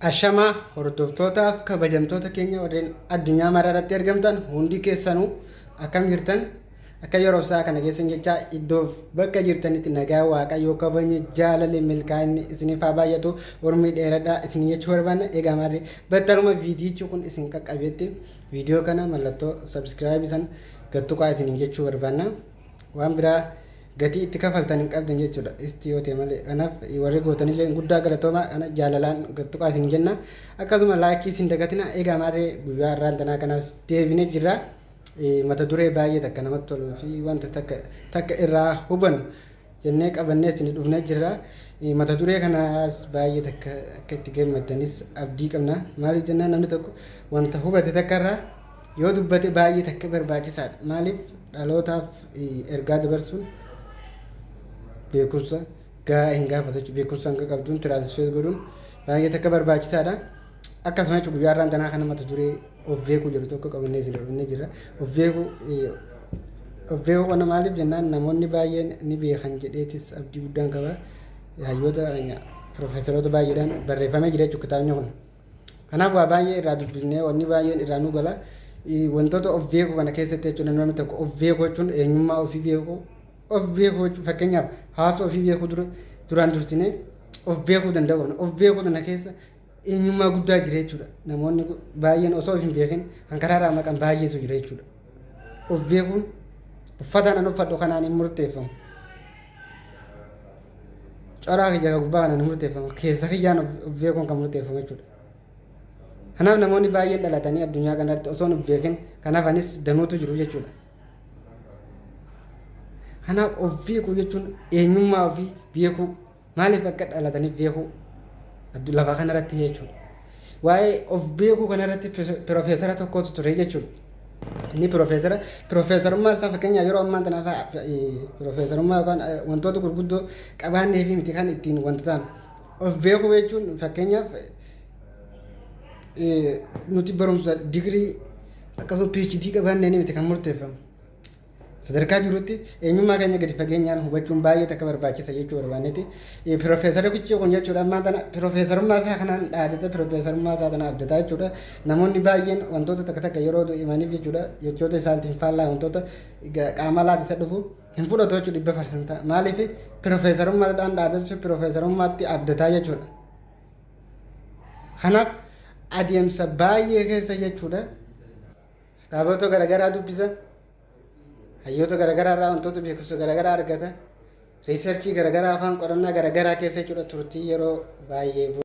Ashamaa hordoftootaaf kabajamtoota keenya warreen addunyaa mara irratti argamtan hundi keessanuu akkam jirtan akka yeroo isaa kana keessan jecha iddoof bakka jirtanitti nagaa waaqayyoo kabajni jaalalli milkaa'inni isiniif haa baay'atu urmii dheeradhaa isin jechuu barbaanna egaa maarree battaluma viidiyichi kun isin qaqqabetti viidiyoo kana mallattoo sabskiraayibii san gattuqaa isin jechuu barbaanna. waan biraa gatii itti kafaltan hin qabdan jechuudha isti yoo ta'e malee kanaaf warri gootanillee guddaa galatooma kana jaalalaan gattuqaa isin jenna akkasuma laayikii isin dagatina egaa maarree guyyaa irraan tanaa kanaas deebine jirra mata duree baay'ee takka namatti toluu fi wanta takka takka irraa hubannu jennee qabannee isin dhufnee jirra. Mata duree kanaas baay'ee takka akka itti gammaddanis abdii qabna. Maaliif jennaan namni tokko wanta hubate takka irraa yoo dubbate baay'ee takka barbaachisaadha. Maaliif dhalootaaf ergaa dabarsuun beekumsa gahaa hin gaafatu jechuudha. Beekumsa hanga qabduun tiraansifeer godhuun baay'ee takka barbaachisaadha. Akkasuma jechuudha guyyaa har'aan tanaa kana mata duree of beekuu jedhu tokko qabannee isin dhufnee jira. Of beekuu of beekuu kana maaliif jennaan namoonni baay'een ni beekan jedheetis abdii guddaan qaba. Hayyoota piroofeesaroota baay'eedhaan barreeffamee jira jechuudha kitaabni kun. Kanaaf waa baay'ee irraa dubbisnee wanni baay'een irraa nu gala. Wantoota of beekuu kana keessatti jechuudha namni tokko of beekuu jechuun eenyummaa ofii beekuu of beekuu jechuun fakkeenyaaf hawaasa ofii beekuu dura duraan dursinee of beekuu danda'uun of beekuu kana keessa eenyummaa guddaa jira jechuudha. Namoonni baay'een osoo of hin beekin kan karaarraa maqan baay'eetu jira jechuudha. Of beekuun uffataan an uffadhu kanaan hin murteeffamu. Coraa kiyya kan gubbaa kanaan hin murteeffamu. Keessa kiyyaan of beekuun kan murteeffamu jechuudha. Kanaaf namoonni baay'een dhalatanii addunyaa kanarratti osoo hin beekin kan hafanis danuutu jiru jechuudha. Kanaaf of beekuu jechuun eenyummaa ofii beekuu. Maaliif akka dhalataniif beekuu addu- lafa kanarratti jechuudha. Waa'ee of beekuu kanarratti piro- pirofeesara tokkotu ture jechuudha. Inni pirofeesara pirofeesarummaa isaa fakkeenyaaf yeroo ammaa tanaaf eh, pirofeesarummaa yookaan eh, wantoota gurguddoo qabaannee fi miti kan ittiin wanta ta'an of beekuu jechuun fakkeenyaaf eh, nuti barumsa digirii akkasuma PhD qabaannee miti kan murteeffamu. Sadarkaa jirutti eenyummaa keenya gadi fageenyaan hubachuun baay'ee takka barbaachisa jechuu barbaannetti piroofeesara kuchii kun jechuudha ammaa tana piroofeesarummaa isaa kanaan dhaadata piroofeesarummaa isaa tana abdataa jechuudha namoonni baay'een wantoota takka takka yeroo himaniif jechuudha jechoota isaaniitiin faallaa wantoota qaama laata isa dhufu hin fudhatu jechuudha dhibba farsanta maaliif piroofeesarummaadhaan dhaadatu piroofeesarummaatti abdataa jechuudha kanaaf adeemsa baay'ee keessa jechuudha. Kitaabota garaagaraa dubbisa. Hayyoota garaagaraa irraa wantoota beekumsa garaagaraa argata. Riisarchii garaagaraa afaan qorannaa garaagaraa keessa jechuudha turtii yeroo baay'ee booda.